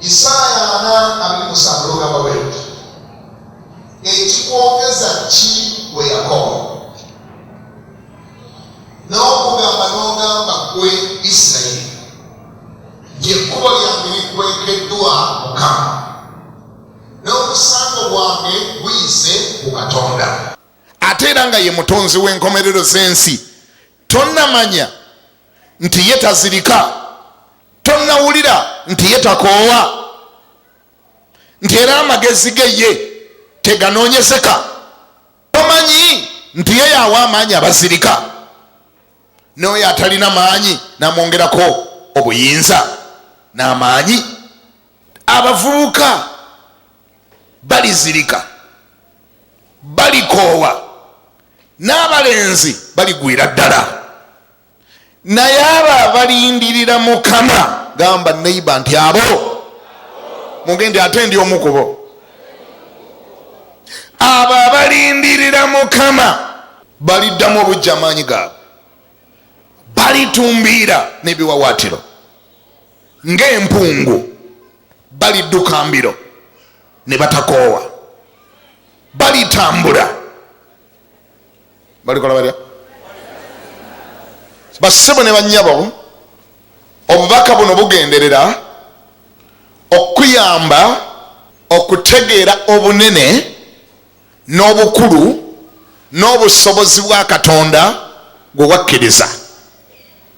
Isaaya ana abiri musanvu lugamba bwe luti ekikwogeza ki gwe Yakobo n'okugamba n'ogamba gwe Isirayiri nti ekkubo lyange likwekeddwa Mukama n'omusango gwange guyise ku Katonda ate era nga ye mutonzi w'enkomerero z'ensi tonamanya nti ye tazirika tonawulira nti ye takoowa nti era amagezi ge ye teganoonyezeka tomanyi nti ye yawa amaanyi abazirika n'oyo atalina maanyi namwongerako obuyinza n'amaanyi abavubuka balizirika balikoowa n'abalenzi baligwira ddala naye abo abalindirira mukama gamba neiba nti abo mugendi ate ndi omukubo abo abalindirira mukama baliddamu obujja amaanyi gaabwe balitumbiira n'ebiwawaatiro ng'empungu balidduka mbiro ne batakoowa balitambula balikola batya bassebo ne bannyabo obubaka buno bugenderera okuyamba okutegeera obunene n'obukulu n'obusobozi bwa katonda gwe wakkiriza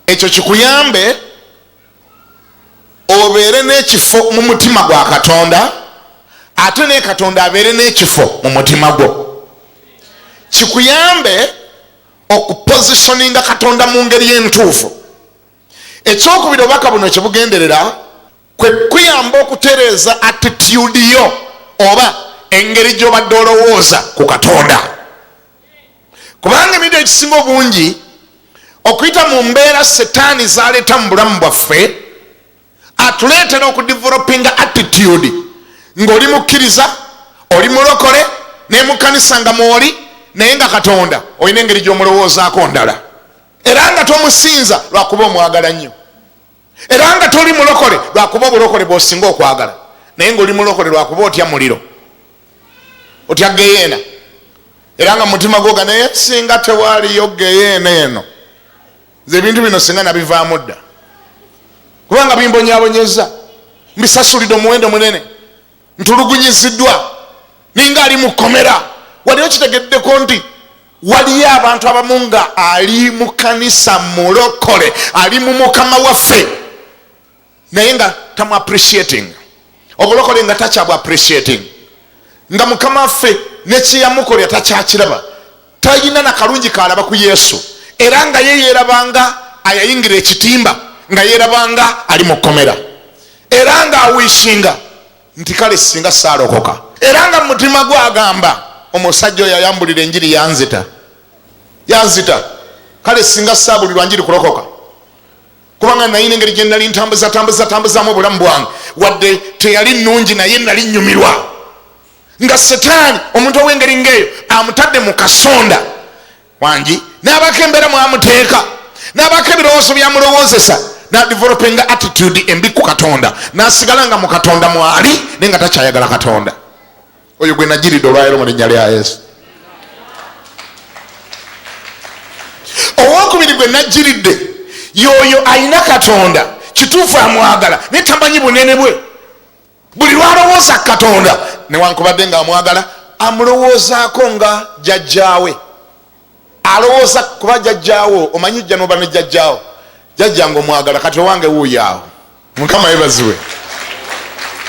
ekyo kikuyambe obeere n'ekifo mu mutima gwa katonda ate ne katonda abeere n'ekifo mu mutima gwo kikuyambe okupositioninga katonda mu ngeri entuufu ekyokubiri obubaka buno kyebugenderera kwe kuyamba okutereeza attitude yo oba engeri gy'obadde olowooza ku katonda kubanga ebintu ekisinga obungi okuyita mu mbeera setaani zaleeta mu bulamu bwaffe atuleetera okudevelopinga attitude ngaoli mukkiriza oli mulokole naye mukanisa nga mwoli naye nga katonda olina engeri gyomulowoozaako ndala era nga tomusinza lwakuba omwagala nnyo era nga toli mulokole lwakuba obulokole bwosinga okwagala naye ngaoli mulokole lwakuba otya muliro otya geyeena era nga mutima gwoga naye singa tewaliyo geyeena eno nze ebintu bino singa nabivaamu dda kubanga bimbonyabonyeza mbisasulidde omuwendo munene ntulugunyiziddwa ninga ali mu kkomera wali okitegeddeko nti waliyo abantu abamu nga ali mu kanisa mulokole ali mu mukama waffe naye nga tamu appreciating obulokole nga takyabu appreciating nga mukama waffe nekyeyamukolera takyakiraba talina na kalungi kaalaba ku Yesu era nga ye yeerabanga ayayingira ekitimba nga yeerabanga ali mu kkomera era nga awiisinga nti kale singa saalokoka era nga mumutima gwe agamba omusajja oyo ayambulira enjiri yanzita yanzita kale singa saabulirwa njiri kulokoka kubanga nayina engeri gye nali ntambuzatambuzatambuzamu obulamu bwange wadde teyali nnungi naye nali nnyumirwa nga setaani omuntu ow'engeri ng'eyo amutadde mu kasonda wangi n'abaako embeera mwamuteeka n'abaako ebirowoozo byamulowoozesa nadivelopinga attitude embi ku katonda nasigala nga mu katonda mwali naye nga takyayagala katonda oyo gwe najiridde olwayiro mu linnya lya yesu owokubiri gwe najiridde yoyo ayina katonda kituufu amwagala naye tamanyi bunene bwe buli lwalowooza katonda newankubadde nga amwagala amulowoozaako nga jajjaawe alowooza kuba jajjaawo omanyi jja noba ne jajjaawo jajja nga omwagala kati owange wuuyaawo mukama yebaziwe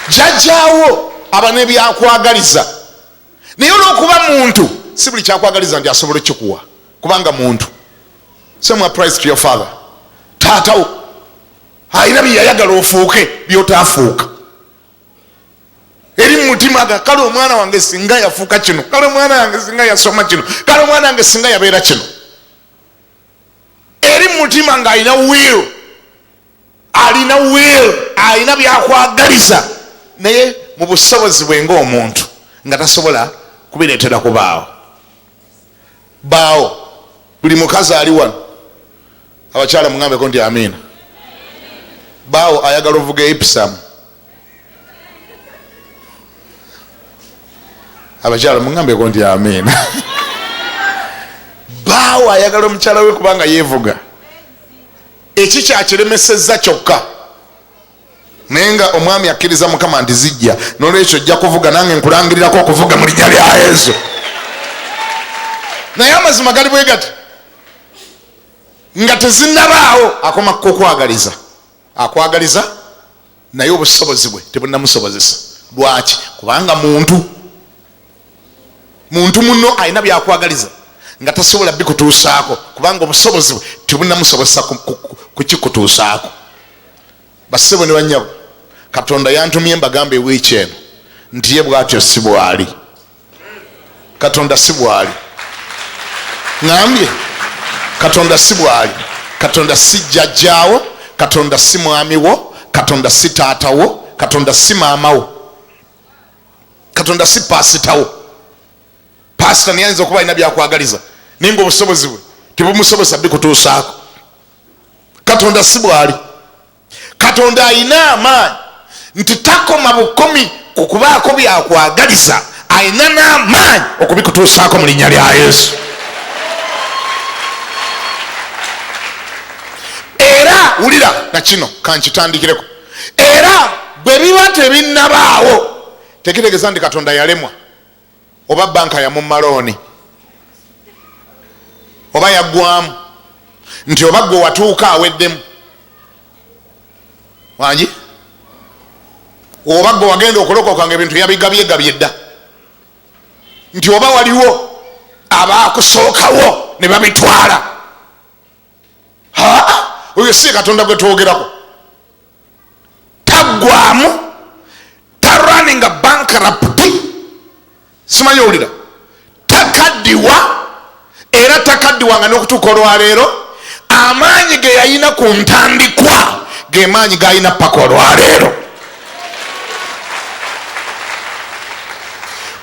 jajjaawo aba nebyakwagaliza naye olwokuba muntu si buli kyakwagaliza nti asobola okikuwa kubanga muntu semwa price to your father taatawo alina byeyayagala ofuuke byotaafuuka eri mumutima ga kale omwana wange singa yafuuka kino kale omwana wange singa yasoma kino kale omwana wange singa yabeera kino eri mumutima nga alina will alina will alina byakwagaliza naye mu busobozi bwe ngaomuntu nga tasobola kubireetera kubaawo baawo buli mukazi ali wano abakyala mungambeko nti amiina baawo ayagala ovuga eipsamu abakyala mungambeko nti amiina baawo ayagala omukyala we kubanga yevuga ekikyakilemeseza kyokka naye nga omwami akkiriza mukama nti zijja nolwekyo ojja kuvuga nange nkulangirirako okuvuga mu linya lya yesu naye amazima gali bwe gati nga tezinabaawo akoma kukwagaliza akwagaliza naye obusobozi bwe tebunamusobozesa lwaki kubanga muntu muntu muno alina byakwagaliza nga tasobola bikutuusaako kubanga obusobozi bwe tebunamusobozesa kukikutuusaako basebo ne banyabo katonda yantumye mbagamba ewiiki eno nti ye bwatyo si bwali katonda si bwali ŋambye katonda si bwali katonda si jjajjaawo katonda si mwami wo katonda si taata wo katonda si maama wo katonda si paasitawo paasita naye ayinza okuba alina byakwagaliza naye nga obusobozi bwe tebumusobesa bikutuusaako katonda si bwali katonda alina amaanyi nti takoma bukomi ku kubaako byakwagaliza alina n'amaanyi okubikutuusaako mu linnya lya yesu era wulira na kino kankitandikireko era bwe biba tebinnabaawo tekitegeeza nti katonda yalemwa oba banka yamumalooni oba yaggwamu nti oba gwe watuuka aweddemu wangi oba gwe wagenda okulokoka nga ebintu yabigabyegabye dda nti oba waliwo abaakusookawo ne babitwala haa oyo si katonda gwe twogerako taggwamu taraninga bankarapti simanyi owulira takaddiwa era takaddiwa nga n'okutuuka olwaleero amaanyi ge yalina ku ntandikwa ge maanyi galina paka olwaleero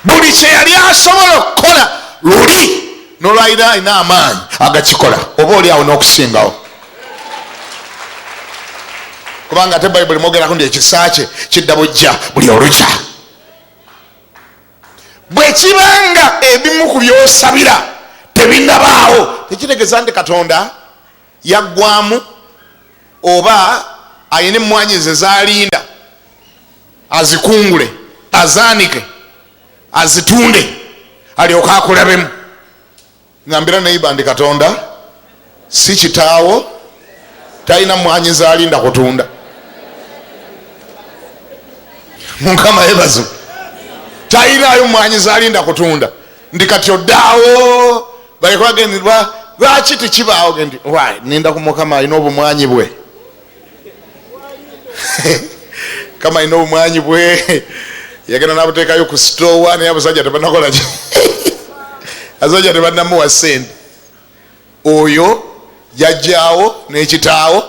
buli kye yali asobola okukola luli nolwalira alina amaanyi agakikola oba oli awo n'okusingawo kubanga ate bayibuli mwogerako nti ekisa kye kidda bujja buli olukya bwekibanga ebimu ku byosabira tebinabaawo tekitegeeza nti katonda yaggwaamu oba alina emmwanyi ze zaalinda azikungule azaanike azitunde alyoke akulabemu ngambira neiba ndi katonda si kitaawo talina mwanyi zalinda kutunda mukama yebazo talinayo mwanyi zalinda kutunda ndi kati oddaawo balekwagendirwa lwaki tekibaawo gendi wy ninda ku mukama alina obumwanyi bwe kama alina obumwanyi bwe yagenda nabuteekayo ku sitowa naye abasajja tebanakolaki abasajja tebanamuwa sente oyo yajjawo nekitaawo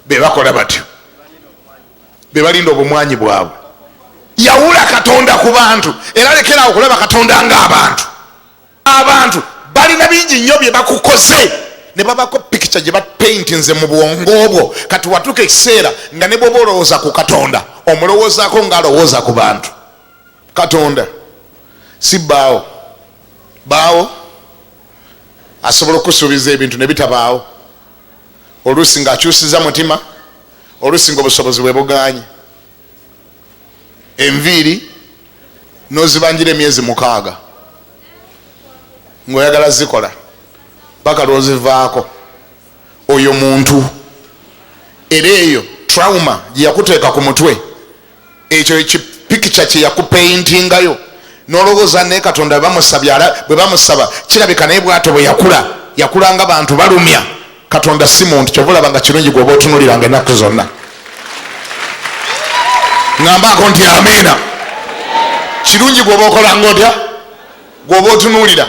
bebakola batyo bebalinda obumwanyi bwabwe yawula katonda ku bantu era lekerawo okulaba katonda nga abantu abantu balina bingi nnyo byebakukoze ne babako pikica gye bapeintinze mu bwongo obwo kati watuuka ekiseera nga ne bwoba olowooza ku katonda omulowoozako nga alowooza ku bantu katonda si baawo baawo asobola okusuubiza ebintu ne bitabaawo oluusi ng'akyusiza mutima oluusi ng'obusobozi bwe bugaanyi enviiri n'ozibanjira emyezi mukaaga ng'oyagala zikola paka lw'ozivaako oyo muntu era eyo trauma gye yakuteeka ku mutwe ekyo ekipikica kyeyakupeintingayo nolowooza naye katonda bwe bamusaba kirabika naye bwato bwe yakula yakula nga bantu balumya katonda si muntu kyova olaba nga kirungi gwoba otunuliranga ennaku zonna ŋambaako nti amiina kirungi gwoba okolanga otya gwoba otunuulira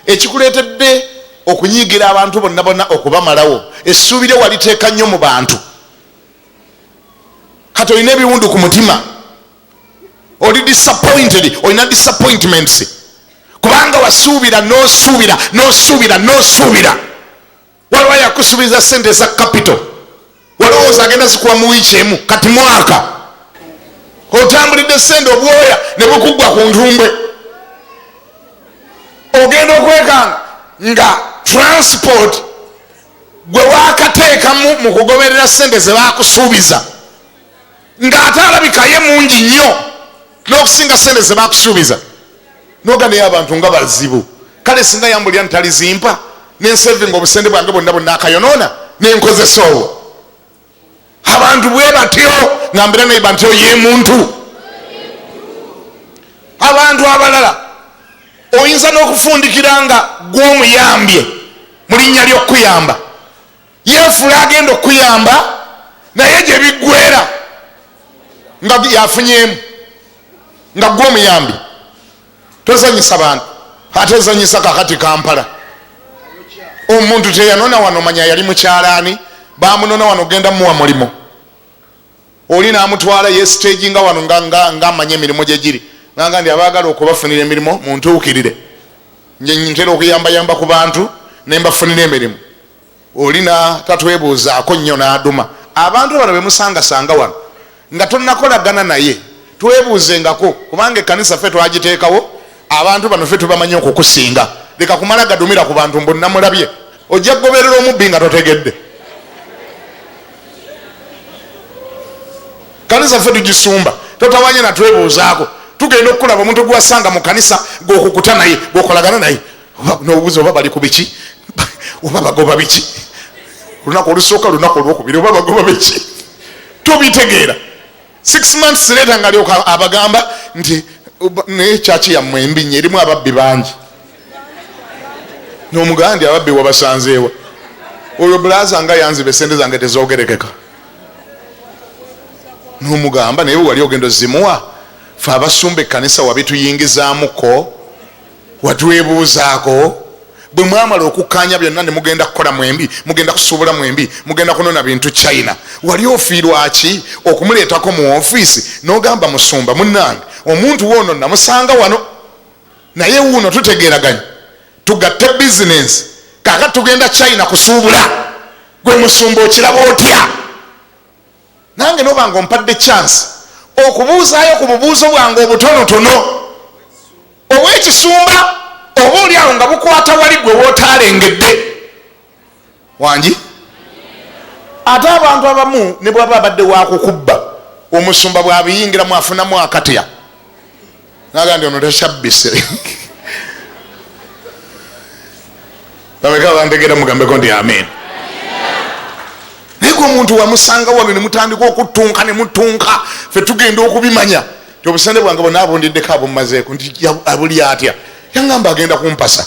ekikuleetedde okunyiigira abantu bonna bonna okubamalawo essuubire waliteeka nnyo mu bantu kati olina ebiwundu ku mutima oli disappointed olina disappointments kubanga wasuubira nosuubira nosuubira nosuubira waliwo yakusuubiza sente eza capital walowooza agenda zikuwa mu wiiki emu kati mwaka otambulidde sente obwoya ne bukuggwa ku ntumbwe ogenda okwekanga nga transport gwe wakateekamu mu kugoberera ssente ze bakusuubiza ng'ate alabika ye mungi nnyo n'okusinga ssente ze bakusuubiza noga naye abantu nga bazibu kale singa yambulira ntalizimpa nensevinga obusente bwange bonna bonna akayonoona nenkozesa obwo abantu bwe batyo ngambira naye banti oye muntu abantu abalala oyinza n'okufundikira nga gw'omuyambye mu linnya ly'okukuyamba yeefula agenda okukuyamba naye gye biggwera nga yafunyemu nga gw'omuyambi tozanyisa bantu ate zanyisa kakati kampala omuntu teyanona wano manya yali mukyalaani bamunona wano genda muwa mulimu oli namutwala yesitegi nga wano ngaamanya emirimu gyegiri nanga ndi abagala okubafunira emirimu muntuukirire ntera okuyambayamba ku bantu nembafunira emirimu Olina tatwebuuzaako nnyo n'aduma. Abantu bano be musangasanga wano nga tonnakolagana naye twebuuzengako kubanga ekkanisa ffe twagiteekawo abantu bano ffe tubamanyi okukusinga. Leka kumala gadumira ku bantu mbu nnamulabye. Ojja kugoberera omubbi nga totegedde. Kkanisa ffe tugisumba totawanye natwebuuzaako tugenda okukulaba omuntu gwewasanga mu kanisa gwokukuta naye gwokolagana naye nobuuza oba bali ku biki oba bagoba biki olunaku olusooka lunaku olwokubiri oba bagoba biki tobitegeera six months leeta nga lyoka abagamba nti naye kyaki yammwe embi nyo erimu ababbi bangi nomugandi ababbi wabasanzeewa oyo bulaza nga yanziba esente zange tezogerekeka nomugamba naye wewali ogendo zimuwa fe abasumba ekkanisa wabituyingizamuko watwebuuzaako bwe mwamala okukkaanya byonna ne mugenda kukola mwembi mugenda kusuubula mwembi mugenda kunona bintu china wali ofiirwaki okumuleetako mu ofiisi n'ogamba musumba munnange omuntu woono namusanga wano naye wuuno tutegeeraganya tugatte bizinensi kaka tugenda china kusuubula gwe musumba okiraba otya nange noba nga ompadde chance okubuuzaayo ku bubuuzo bwange obutonotono obwekisumba oba oli awo nga bukwata wali gwe wootaalengedde wangi ate abantu abamu ne bwaba abadde wakukubba omusumba bwabiyingiramu afunamu akatya naga nti ono takyabbise bameka bantegera mugambeko nti amin naye gwe omuntu wamusanga wano nemutandika okutunka nemutunka fe tugenda okubimanya ti obusente bwange bona abundiddeko abumazeeko nti abuli atya yangamba agenda kumpasa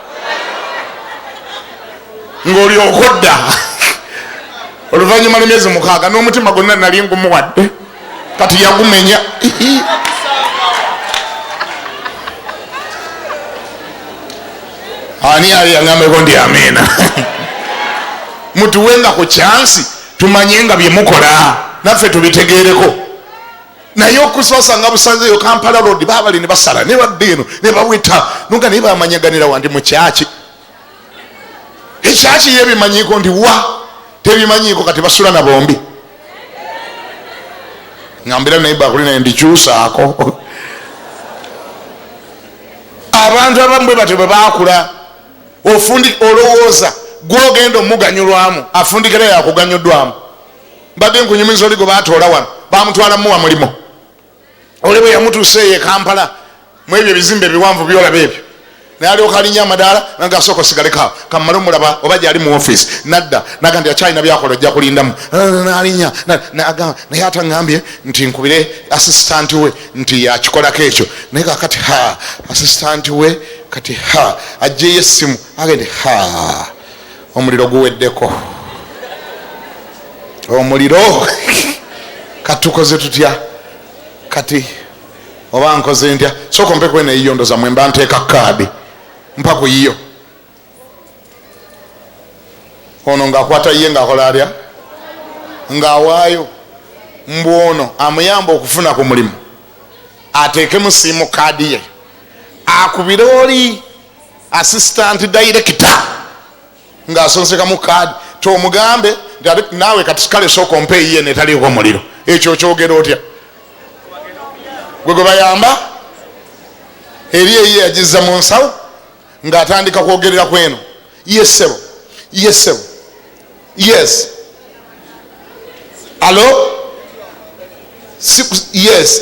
ng'olyoka odda oluvannyuma lwemyezi mukaaga n'omutima gonna nali ngumuwadde kati yagumenya ani ali yangambeko nti amiina mutuwenga ku kyansi tumanye nga byemukola naffe tubitegeereko naye okusosa nga busanzeyo kampala road babali nebasala nebadda eno nebaweta nuga naye bamanyaganira wandi mukyaki ekyaki ye bimanyiko ndi wa tebimanyiko kati basula na bombi ngambira naye bakuli naye ndikyusaako abantu abamu bwe batyo bwe bakula ofundi olowooza gwogenda omuganyulwamu afundikira yakuganyuddwamu mbadde nkunyumiza oli gwe batoola wano bamutwala muwa mulimu oli bwe yamutuusa eyo ekampala mu ebyo ebizimbe ebiwanvu byolaba ebyo nayalyoka alinya amadaala naga asooka osigalekaawo kamumale omulaba oba gyali mu ofiisi nadda naga nti akyalina byakola ojja kulindamu nalinya nagamba naye atangambye nti nkubire asisitanti we nti yakikolako ekyo naye kakati ha asisitanti we kati ha ajjeyo essimu agende ha omuliro guweddeko omuliro katukoze tutya kati oba nkoze ntya sooka mpe kwena yiyo ndoza mwe mba nteeka kaadi mpa ku yiyo ono ngaakwata ye ngaakola atya ngaawaayo mbu ono amuyamba okufuna ku mulimu ateekemu siimu kaadi ye akubire oli assistant director ng'asonsekamu kaadi tomugambe naawe kati kale sooka ompa eyiye netaliiko muliro ekyo okyogera otya gwe gwe bayamba eri eyiye yagizza mu nsawo ng'atandika kwogerera ku eno yesebo yesebo yes alo yes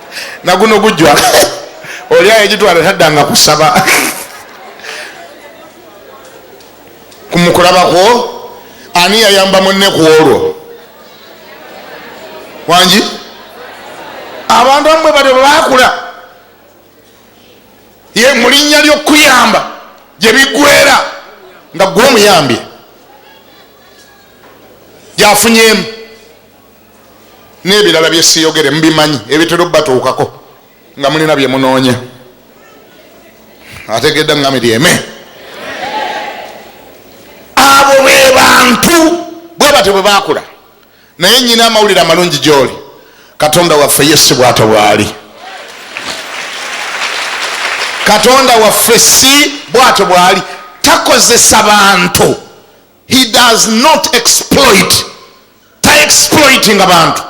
naguno gujwa oli ayegitwala taddanga kusaba kumukulabakwo ani yayamba munne ku olwo wangi abantu amwe bali bakula ye mulinnya lyokuyamba gyebigwera nga gwe omuyambye gyafunyemu n'ebirala bye siyogere mubimanyi ebitera obatuukako nga mulina bye munoonya ategedde ngami lyeme abo be bantu bwe batyo bwe bakula naye nyina amawulire amalungi gyoli katonda waffe ye si bwato bwali katonda waffe si bwato bwali takozesa bantu he does not exploit ta exploitinga bantu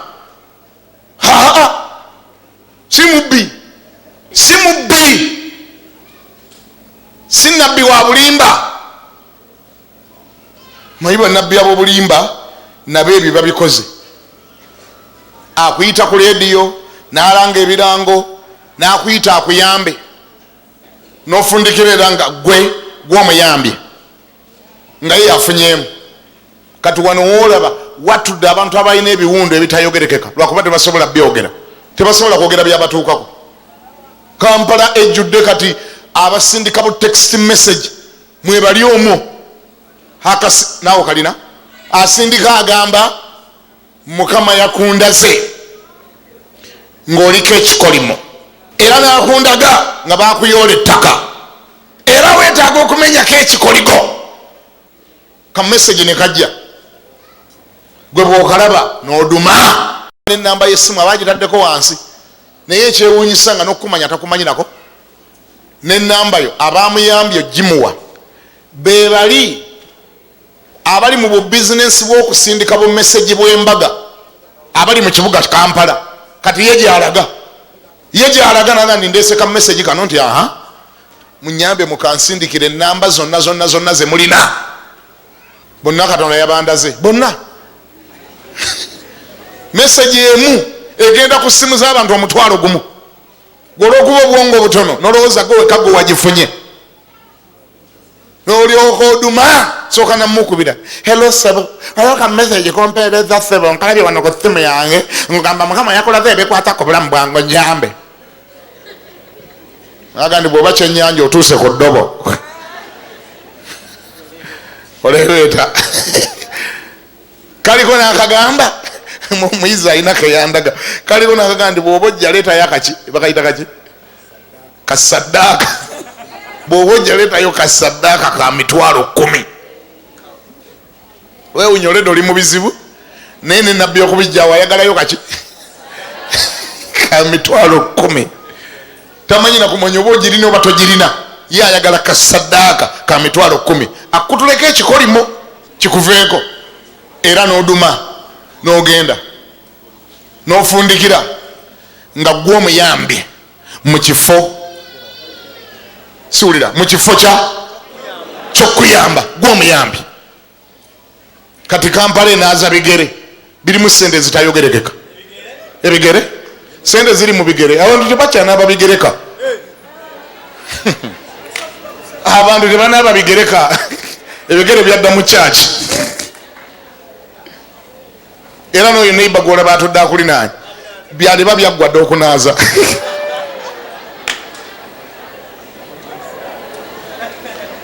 haa si mubbi si mubbi si nabbi wa bulimba mayi banabbi abobulimba nabo ebyo babikoze akuyita ku lediyo nalanga ebirango nakuyita akuyambe nofundikirera nga gwe gwomuyambye nga ye yafunyemu kati wano wolaba watudde abantu abalina ebiwundu ebitayogerekeka lwakuba tebasobola byogera tebasobola kwogera byabatuukako kampala ejjudde kati abasindika bu text message mwebali omwo naawe kalina asindika agamba mukama yakundaze ng'oliko ekikolimo era nakundaga nga bakuyoola ettaka era wetaaga okumenyako ekikoligo kamesegi ne kajja gwe bwokalaba n'oduma nenamba yesimu aba gitaddeko wansi naye ekyewunyisa nga nokukumanya takumanyirako nenamba yo abamuyambye ogimuwa bebali abali mu bubizinensi bw'okusindika bumesegi bw'embaga abali mu kibuga kampala kati ye gyalaga ye gyalaga naga ndi ndeeseka mumesegi kano nti aha munyambe mukansindikira enamba zonna zonna zonna ze mulina bonna katonda yabandaze bonna mesegi emu egenda ku simu z'abantu omutwalo gumu gwolwokuba obwongo obutono nolowooza gwe wekagwe wagifunye nolyoka oduma soka namukubira helo sebo ayo ka message kompereza sebo nkalabye wano ku simu yange ngamba mukama yakulaze ebikwatako bulamu bwange nyambe agandi bwoba kyenyanja otuuse ku ddobo olereeta kaliko nakagamba muyizi alina keyandaga kaliko nakagamba ndi bwoba ojja leetayo akaki bakayita kaki kasaddaaka bwoba ojja leetayo kasaddaaka ka mitwalo kumi wewunyolede oli mu bizibu naye ne nabbi okubijjawo ayagalayo kaki ka mitwalo kumi tamanyi nakumanya oba ogirina oba togirina ye ayagala kasaddaaka ka mitwalo kumi akutuleko ekikolimo kikuveeko era n'oduma n'ogenda n'ofundikira nga gwe omuyambi mu kifo siwulira mu kifo kya kyokuyamba gwe omuyambi kati kampala enaaza bigere birimu sente zitayogerekeka ebigere sente ziri mu bigere abantu tebakyanaaba bigereka abantu tebanaaba bigereka ebigere byadda mu kyaki era noyo neiba gwolaba atudde akulinaanye byaliba byaggwa dde okunaaza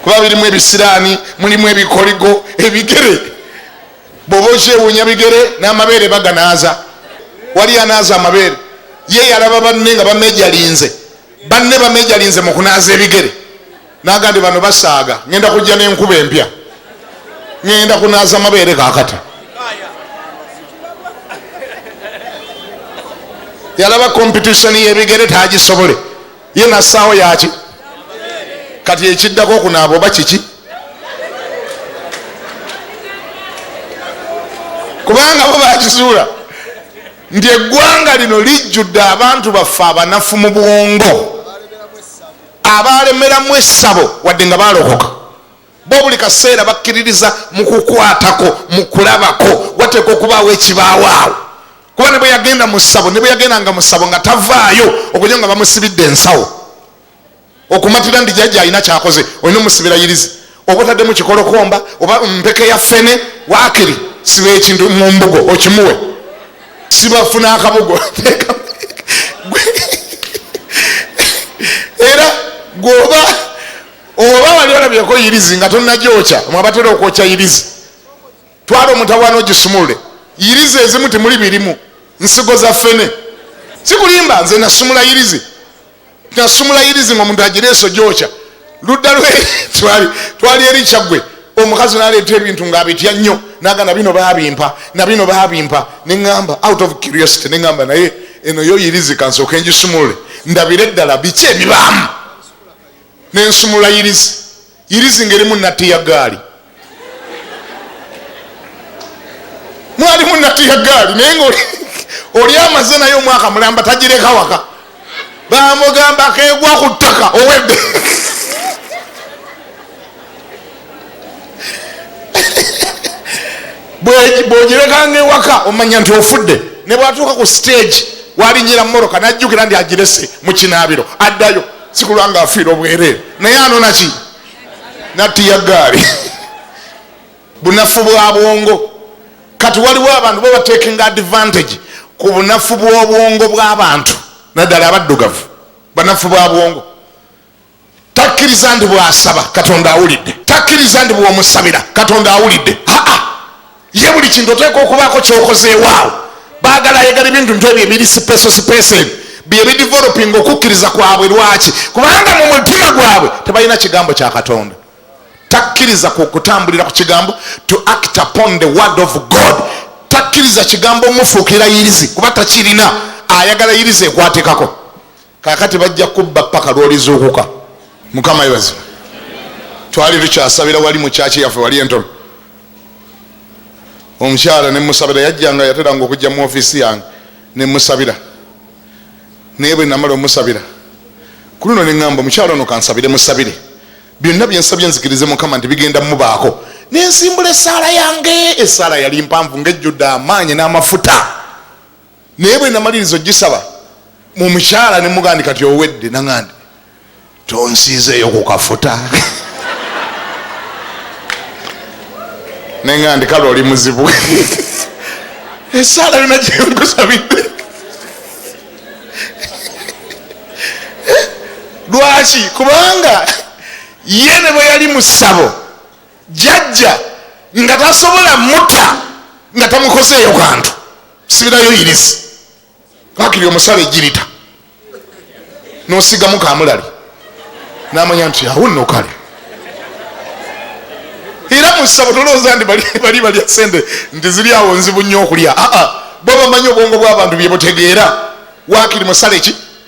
kuba birimu ebisiraani mulimu ebikoligo ebigere bwoba okyewuunya bigere n'amabeere baganaaza wali anaaza amabeere ye yalaba banne nga bamejalinze banne bamejalinze mu kunaaza ebigere nagandi bano basaaga ngenda kujja nenkuba empya ngenda kunaza mabeere kakata yalaba kompetitioni yebigere tagisobole ye nasaawo yaki kati ekiddako okunaaba oba kiki kubanga bo bakizuula nti eggwanga lino lijjudde abantu baffe abanafu mu bwongo abaalemeramu essabo wadde nga baalokoka bo buli kaseera bakkiririza mu kukwatako mu kulabako wateeka okubaawo ekibaawaawo kuba ne bwe yagenda mu ssabo ne bwe yagenda nga mu ssabo nga tavaayo okunyo nga bamusibidde ensawo okumatira ndi jajja alina kyakoze olina omusibira yirizi oba otaddemu kikolokomba oba mpeke ya fene wakiri siba ekintu mu mbugo okimuwe sibafuna akabugo era gwoba oba wali olabyeko yirizi nga tonagyokya mwabatera okwokya yirizi twala omutawaana ogisumulule yirizi ezimu temuli birimu nsigo za fene sikulimba nze nasumula yirizi nasumula yirizi nga omuntu agireeso gyokya ludda lwe twali eri kyaggwe omukazi naleeta ebintu nga abitya nnyo naga nabino babimpa nabino babimpa neŋamba out of curiosity neŋamba naye eno yo yirizi kansooka engisumulule ndabire eddala biki ebibaamu nensumula yirizi irizi ngerimu natiya gaali mwalimu natiya gaali naye nga oli amaze naye omwaka mulamba tagireka waka bamugamba kegwa ku ttaka owedde bwogirekanga ewaka omanya nti ofudde ne bwatuuka ku stage walinyira moroka najjukira nti agirese mu kinaabiro addayo sikulwa nga afiira obwereere naye anona ki nattiya gaali bunafu bwa bwongo kati waliwo abantu bo batekinga advantage ku bunafu bw'obwongo bw'abantu naddala abaddugavu banafu bwa bwongo takkiriza nti bwasaba katonda awulidde takkiriza nti bwomusabira katonda awulidde aa ye buli kintu oteeka okubaako kyokozeewaawo bagala ayagala ebintu ntu ebyo ebiri sipeso sipeso ebyo byebidevelopinga okukkiriza kwabwe lwaki kubanga mu mutima gwabwe tebalina kigambo kya katonda takkiriza ku okutambulira ku kigambo to act upon the word of god takkiriza kigambo mufuukira yirizi kuba takirina ayagala yirizi ekwatekako Kakati bajja kubba paka lwolizuukuka. Mukama yebaze. Twali tukyasabira wali mu kyaki yaffe wali entono. Omukyala ne musabira yajjanga yateranga okujja mu ofisi yange ne musabira. Naye bwe namala omusabira ku luno ne ŋŋamba omukyala ono kansabire musabire byonna bye nsabye nzikirize mukama nti bigenda mubaako ne nsimbula essaala yange essaala yali mpanvu ng'ejjudde amaanyi n'amafuta naye bwe namaliriza ogisaba mu mukyala ne mugandi kati owedde nangandi tonsiizeeyo ku kafuta nengandi kale oli muzibu esaala yona gyenkusabidde lwaki kubanga ye ne bwe yali mu ssabo jajja nga tasobola mutta nga tamukozeeyo kantu sibirayo yirizi bakiri omusala ejirita nosigamu kamulali namanya nti awunno kale era musabo tolowooza nti bali balya sente nti ziri awo nzibu nnyo okulya aa bo bamanyi obwongo bw'abantu bye butegeera wakiri musale ki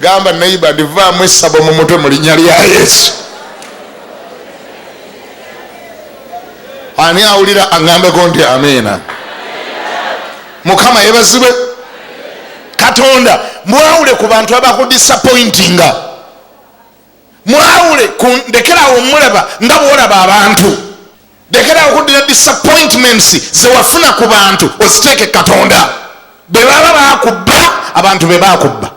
gamba neiba ndivaamu esabo mu mutwe mu linnya lya yesu ani awulira aŋambeko nti amiina mukama yebazibwe katonda mwawule ku bantu abakudisapointinga mwawule ndekerawo mulaba nga bwolaba abantu lekerawo okuddira disappointments zewafuna ku bantu oziteeke katonda bwe baba bakubba abantu be bakubba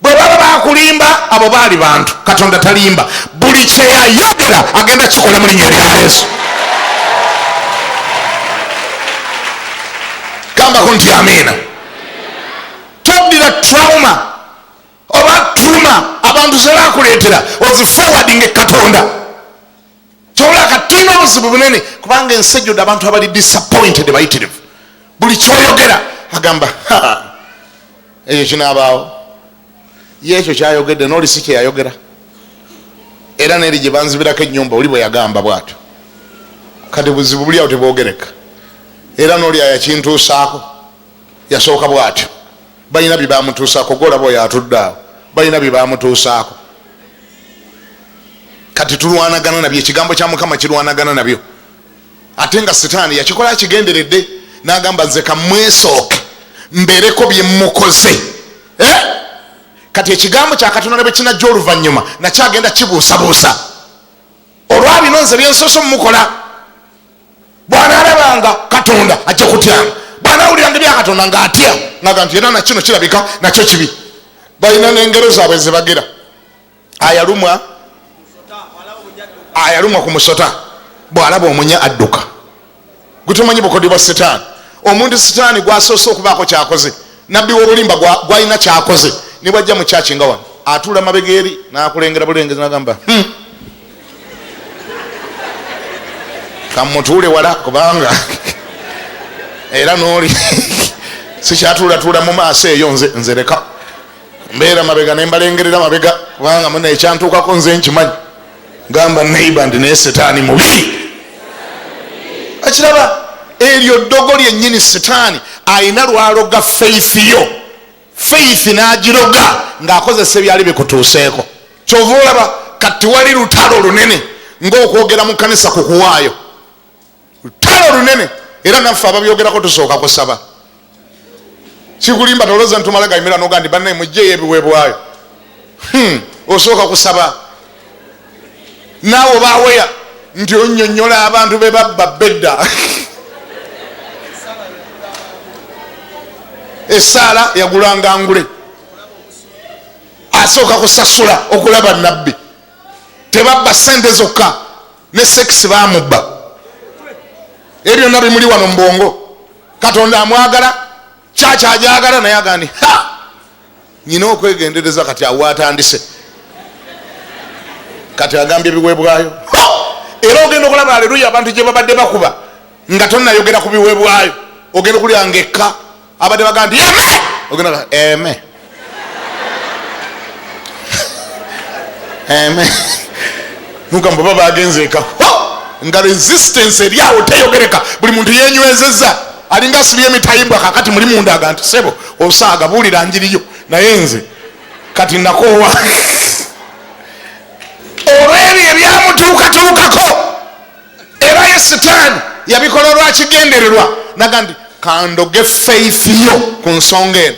bwe baba bakulimba abo baali bantu katonda talimba buli kyeyayogera agenda kikola mu linnya lya yesu gambako nti amiina toddira trauma oba tuma abantu zebakuleetera ozifowadinga ekatonda kyola katulina obuzibu bunene kubanga ensi ejjudde abantu abali disappointed bayitirivu buli kyoyogera agamba ekyo kinaabaawo ye ekyo kyayogedde nooli si kyeyayogera era neri gye banzibirako ennyumba oli bwe yagamba bwatyo kati buzibu buli awo tebwogereka era nooli ayakintuusaako yasooka bwatyo balina byebamutuusaako golaba oyo atudde awo balina byebamutuusaako kati tulwanagana nabyo ekigambo kya mukama kirwanagana nabyo ate nga sitaani yakikola akigenderedde nagamba nze kamwesooke mbereko byemukoze eh? kati ekigambo kyakatonda ne bwekinajja oluvannyuma nakyagenda kibuusabuusa olwabino nze byensoso mumukola bwanalabanga katonda ajja kutyanga bwanawuliranga ebyakatonda nga atya naga nti era nakino kirabika nakyo kibi balina nengero zaabwe zebagira ayalumwa ayalumwa ku musota bwalaba omunya adduka gutumanyi bukodi bwa sitaani omuntu sitaani gwasoose okubaako kyakoze nabbi wobulimba gwalina kyakoze nibwajja mu kyaki nga wano atuula mabega eri nakulengera bulengezi nagamba hmm. kamutuule wala kubanga era noli sikyatuulatuula mu maaso eyo nze nzereka mbeera mabega nembalengerera mabega kubanga muna ekyantuukako nze nkimanyi gamba neiba ndi naye setaani mubi akiraba eryo ddogo lyennyini setaani alina lwaloga faith yo faith n'agiroga ng'akozesa ebyali bikutuuseeko kyova olaba kati wali lutalo lunene ng'okwogera mu kanisa ku kuwaayo lutalo lunene era naffe ababyogerako tusooka kusaba kikulimba toloza ntumala gaimira noga ndi banaye mujjeyo ebiweebwayo hmm, osooka kusaba naawe obaweya nti onyonyola abantu be babba bedda esaala yagulanga ngule asooka kusasula okulaba nabbi tebabba sente zokka ne sekisi bamubba ebyo byonna bimuli wano mubwongo katonda amwagala kyaki ajagala naye agandi nyina okwegendereza kati awo atandise kati agambye ebiweebwayo era ogenda okulaba aleluya abantu gye babadde bakuba nga tonayogera ku biweebwayo ogenda okulya nga ekka abadde baga nti eme ogenda eme nugamba oba bagenze eka nga resistance eri awo teyogereka buli muntu yenywezeza alinga asibye emitayimbwa kakati muli mundaga nti sebo osaaga buulira njiriyo naye nze kati nakoowa olwebyo ebyamutuukatuukako era ye sitaani yabikola lwakigendererwa naga nti kandoge faith yo ku nsonga eno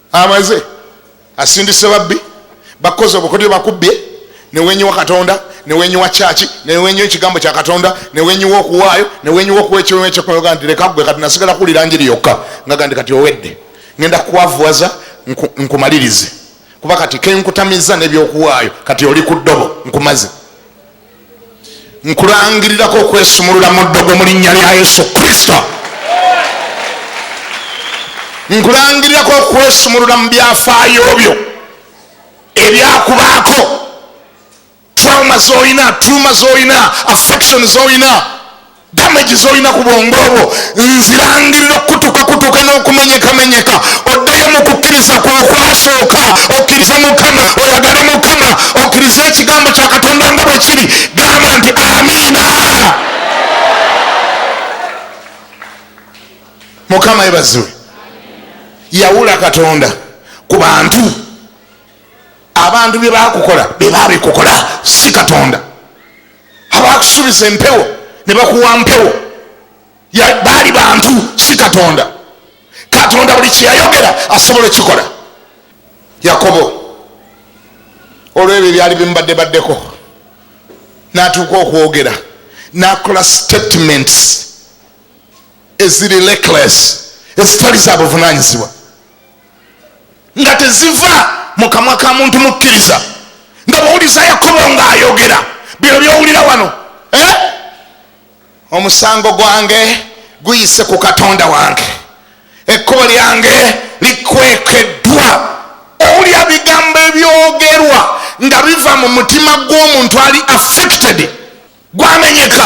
amaze asindise babbi bakoze obukodyo bakubbye newenyiwa katonda newenyiwa kyaki newenyiwa ekigambo kya katonda newenyiwa okuwaayo newenyiwa okuwa ekiwekyoga nti leka gwe kati nasigala kuwulira njiri yokka nga gandi kati owedde ngenda kuwavuwaza nkumalirize kuba kati kenkutamiza nebyokuwaayo kati oli ku ddobo nkumaze nkulangirirako okwesumulula mu ddogo mu linnya lya yesu kristo nkulangirirako okwesumulula mu byafaayo byo ebyakubaako trauma zolina tuma zolina affection zolina damage zolina ku bwongo obwo nzirangirira okukutukakutuka n'okumenyekamenyeka oddeyo mu kukkiriza kwokwasooka okkirize mukama oyagale mukama okkirize ekigambo kya katonda nga bwe kiri gamba nti amiina mukama ebaziwe yawula katonda ku bantu abantu bye bakukola bye babikukola si katonda abaakusuubiza empewo ne bakuwa mpewo baali bantu si katonda katonda buli kyeyayogera asobola okikola yakobo olwebyo ebyali bimubadde baddeko natuuka okwogera nakola statements eziri leckless ezitali za buvunanyizibwa nga teziva mu kamwa ka muntu mukkiriza nga bwowuliza yakobo nga ayogera bino byowulira wano eh? omusango gwange guyise ku katonda wange ekkubo lyange likwekeddwa owulira bigambo ebyogerwa nga biva mu mutima gw'omuntu ali affected gwamenyeka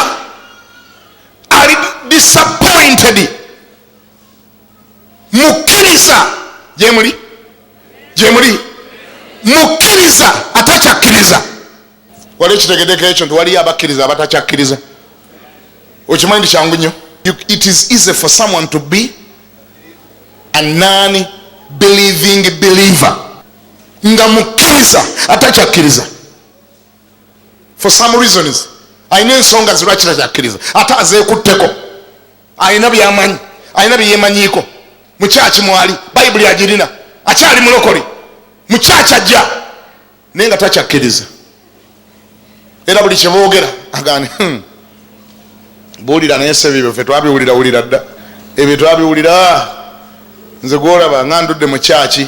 ali disappointed mukkiriza gyemuli gyemuli mukkiriza atakyakkiriza wali ekitegedeko ekyo nti waliyo abakkiriza abatakyakkiriza okimanyi nti kyangu nnyo it is easy for someone to be a non believing believer nga mukkiriza atakyakkiriza for some reasons alina ensonga zirwakira kyakkiriza ate azeekutteko alina byamanyi alina byeyemanyiiko mukyaki mwali bayibuli agirina akyali mulokole mukyaki ajja naye nga takyakkiriza era buli kyeboogera agani hmm, buulira naye sebibyo fe twabiwulira wulira dda ebyo twabiwulira nze gwolaba nga ndudde mukyaki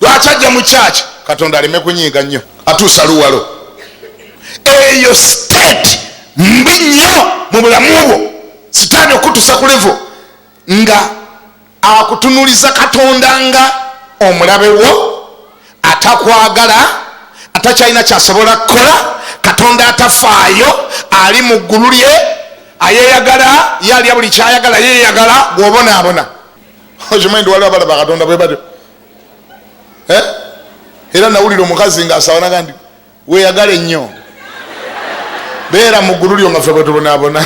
lwaki ajja mu kyaki katonda aleme kunyiiga nnyo atuusa luwalo eyo state mbi nnyo mu bulamu bwo sitaani okutusa ku levo nga akutunuliza katonda nga omulabe wo atakwagala atakyalina kyasobola kukola katonda atafaayo ali mu ggulu lye ayeyagala ye alya buli kyayagala yeyagala gwobonaabona okimanyi nti waliwo abalaba katonda bwe batyo eh? era nawulira omukazi nga asaba naga nti weyagale nnyo beera mu ggulu lyo nga fe bwe tubonaabona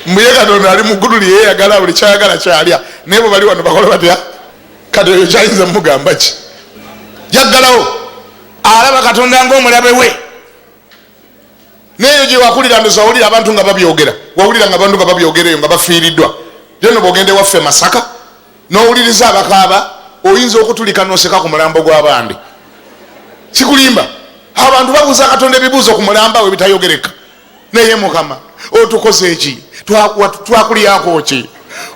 mbuye katonda ali muggulu lyeyeyagala buli kyayagala kyalya naye bwe bali wano bakola batya kati oyo kyayinza mumugamba ki jaggalawo alaba katonda ngaomulabe we neeyo gye wakulira ndoza wawulira abantu nga babyogera wawulira nga abantu nga babyogera eyo nga bafiiriddwa yono bwogenda ewaffe masaka n'owuliriza abakaaba oyinza okutulika noseka ku mulambo gw'abandi kikulimba abantu babuuza katonda ebibuuzo ku mulamba we bitayogereka naye mukama otukoze eki twakuliyako ki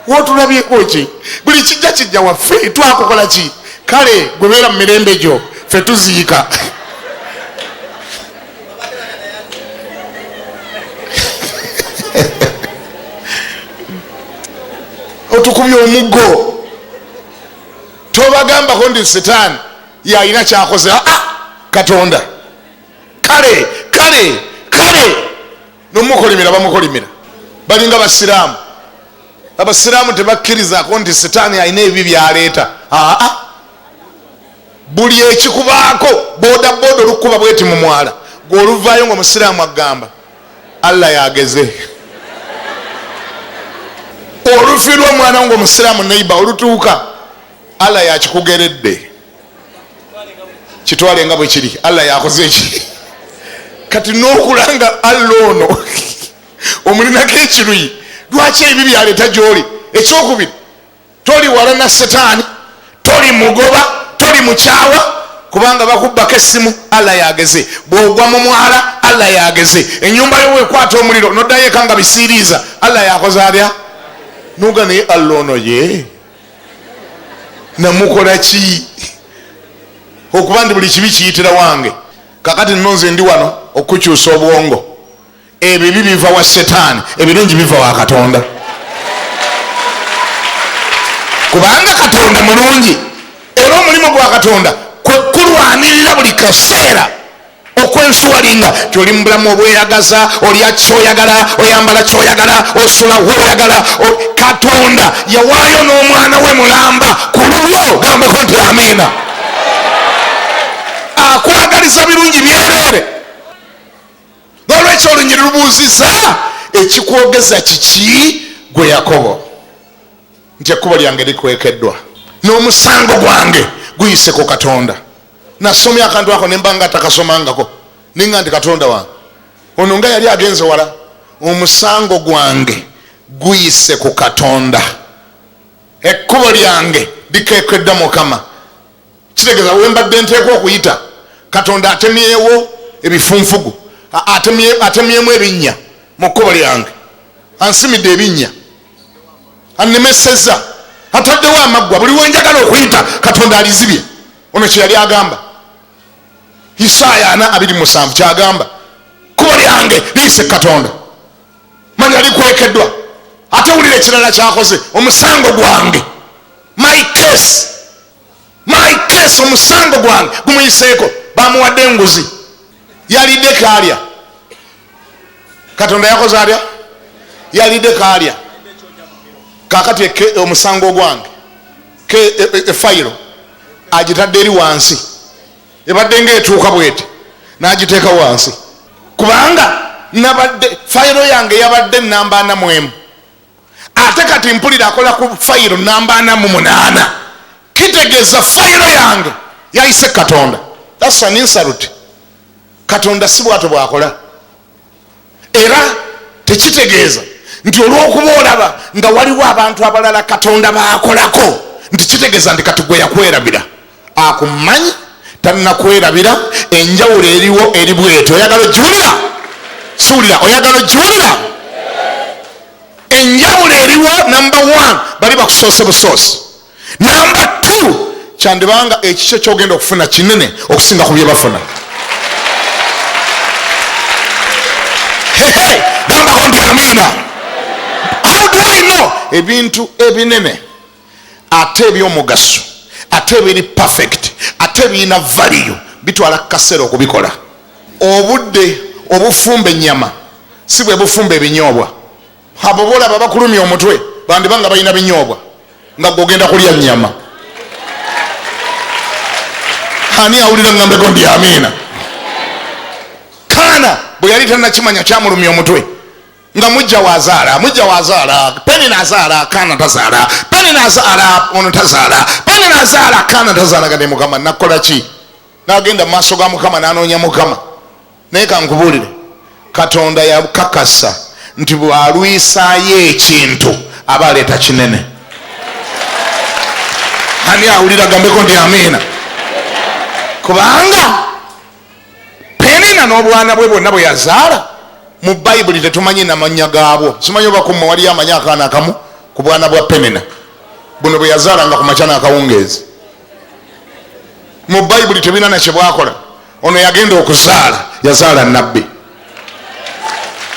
wotulabyeko ki buli kijja kijja waffe twakukola ki kale gwebeera mu mirembe gyo fe tuziika otukubye omuggo tobagambako ndi sitaani yalina kyakoze aa ah, ah, katonda kale kale kale nomukolimira bamukolimira balinga basiraamu abasiraamu tebakkirizako nti sitaani alina ebibi byaleeta aa buli ekikubaako boda boda olukukuba bweti mu mwala gweoluvaayo nga omusiraamu agamba allah yageze olufi lwomwana nga omusiraamu neiba olutuuka allah yakikugeredde kitwale nga bwekiri allah yakoze eki kati nokulanga allah ono omulinako ekiruyi lwaki ebi byaleta gyoli ekyokubiri toli walana setaani toli mugoba toli mukyawa kubanga bakubbako essimu allah yageze bwogwa mu mwala allah yageze enyumba yo wekwata omuliro noddayo eka nga bisiiriiza allah yakoze atya nuga naye allah ono ye namukola ki okuba nti buli kibi kiyitira wange kakati nno nze ndi wano okukyusa obwongo ebibi biva wa setaani ebirungi biva wa katonda kubanga katonda mulungi era omulimu gwa katonda kwekulwanirira buli kaseera okwensuwalinga nti oli mubulamu obweyagaza olya kyoyagala oyambala kyoyagala osula woyagala katonda yawaayo n'omwana we mulamba ku lulwo gambako nti amiina akwagaliza birungi byereere nolwekyo olunyiri lubuuziza ekikwogeza kiki gwe yakobo nti ekkubo lyange likwekeddwa n'omusango gwange guyise ku katonda nasomya akantu ako nemba nga atakasomangako ninga nti katonda wange ono nga yali agenze wala omusango gwange guyise ku katonda ekkubo lyange likekedda mukama kitegeeza wembadde nteekwa okuyita katonda atemyewo ebifunfugu atemyemu ebinnya mu kkubo lyange ansimidde ebinnya annemeseza ataddewo amaggwa buli wenjagala okuyita katonda alizibye ono kyeyali agamba isaaya ana abiri musanvu kyagamba kubo lyange liyise katonda manya likwekeddwa ate wulira ekirala kyakoze omusango gwange my case my case omusango gwange gumuyiseeko bamuwadde enguzi yalidde kalya katonda yakoze alya yalidde kalya kakati omusango ogwange efayiro e, e, agitadde eri wansi ebadde nga etuuka bwete nagiteeka wansi kubanga nabadde fayiro yange yabadde namba ana mwemu ate kati mpulira akola ku fayiro namba ana mu munaana kitegeeza fayiro yange yayise katonda thats an insult katonda si bwato bwakola era tekitegeeza nti olwokuba olaba nga waliwo abantu abalala katonda bakolako nti kitegeeza nti kati gwe yakwerabira akumanyi tannakwerabira enjawulo eriwo eri bweti oyagala ogiwulira siwulira oyagala ogiwulira enjawulo eriwo namba one bali bakusoose busoosi namba t kyandibanga ekikyo kyogenda okufuna kinene okusinga ku byebafuna ebintu ebinene ate ebyomugaso ate ebiri perfect ate ebirina valiyo bitwala kaseera okubikola obudde obufumba enyama si bwe bufumba ebinyoobwa abo bolaba bakulumya omutwe bandiba nga balina binyoobwa nga gogenda kulya nyama ani awulira ngambeko ndi amiina kaana bwe yali tanakimanya kyamulumya omutwe nga mujja wazaala mujja wazaala peni nazaala kaana tazaala peni nazaala ono tazaala peni nazaala kaana tazaala gade mukama nakola ki nagenda mumaaso ga mukama nanoonya mukama naye kankubuulire katonda yakakasa nti bwalwisayo ekintu aba aleeta kinene ani awulira gambeko nti amiina kubanga penina n'obwana bwe bwonna bwe yazaala mu bayibuli tetumanyi namannya gaabwo simanyi obakumwe waliyo amanyi akaana akamu ku bwana bwa penina buno bwe yazaala nga ku makya n'akawungeezi mu bayibuli tebirina nakye bwakola ono yagenda okuzaala yazaala nabbi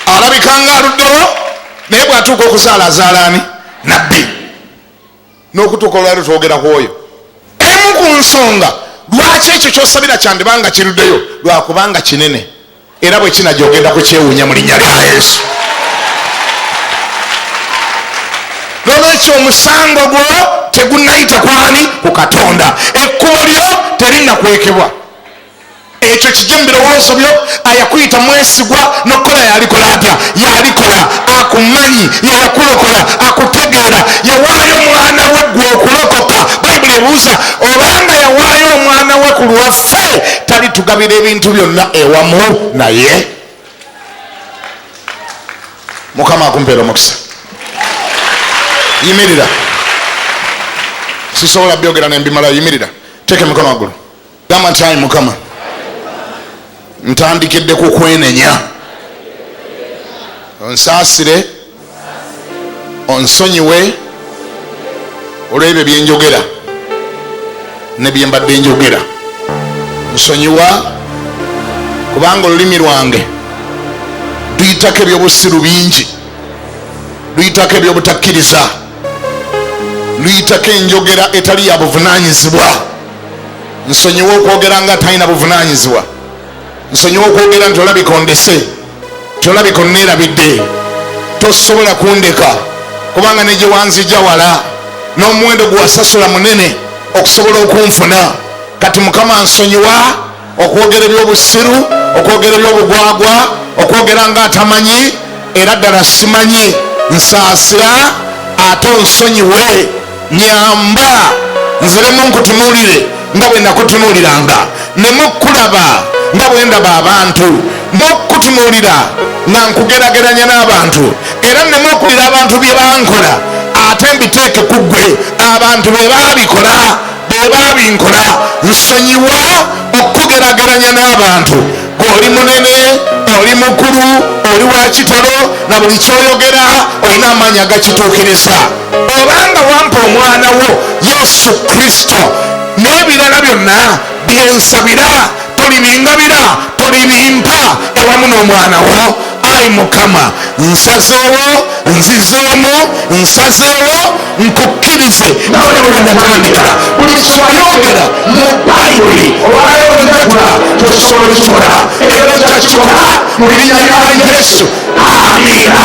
alabikanga aluddewo naye bwatuuka okuzaala azaalaani nabbi n'okutuuka olwali twogera ku oyo emu ku nsonga lwaki ekyo kyosabira kyandibanga kiruddeyo lwakubanga kinene era bwe kinaja ogenda kukyewuunya mu linnya lya yesu nolwekyo omusango gwo tegunayita kwani ku katonda ekkubo lyo terinakwekebwa ekyo kijja mu birowoozo byo ayakuyita mwesigwa nokukola yalikola atya yalikola akumanyi yeyakulokola akutegeera yawaayo omwana we gwe okulokoka bayibuli ebuuza obanga yawaayo omwana we ku lwaffe talitugabira ebintu byonna ewamu naye mukama akumpeera omukisa yimirira sisobola byogera nembimala yimirira teeka emikono waggulu gamba nti ayi mukama ntandikidde ku kwenenya onsaasire onsonyiwe olwebyo byenjogera nebyembadde njogera nsonyiwa kubanga olulimi lwange luyitako ebyobusiru bingi luyitako ebyobutakkiriza luyitako enjogera etali yabuvunanyizibwa nsonyiwa okwogera nga talina buvunanyizibwa nsonyiwa okwogera nti olabika ondese tolabika onneerabidde tosobola kundeka kubanga negyewanzija wala n'omuwendo gwewasasula munene okusobola okunfuna kati mukama nsonyiwa okwogera ebyobusiru okwogera ebyobugwagwa okwogera nga atamanyi era ddala simanyi nsaasira ate onsonyiwe nyamba nziremu nkutunuulire nga bwe nakutunuuliranga nemukkulaba nga bwe ndaba abantu nokukutunuulira nga nkugerageranya n'abantu era nemuokulira abantu bye bankola ate mbiteeke ku ggwe abantu be baabikola bw'oba binkola nsonyiwa okukugerageranya n'abantu gweoli munene oli mukulu oli wa kitalo na buli kyoyogera olina amaanyi agakituukiriza obanga wampa omwana wo yesu kristo n'ebirala byonna byensabira tolibingabira tolibimpa ewamu n'omwana wo ayi mukama nsazeewo nzizeemu nsazeewo nkukkirize ngone bwenatandika buli kyoyogera mu bayibuli olwayogata tosobola kikola era takikola mu linnya lya yesu amina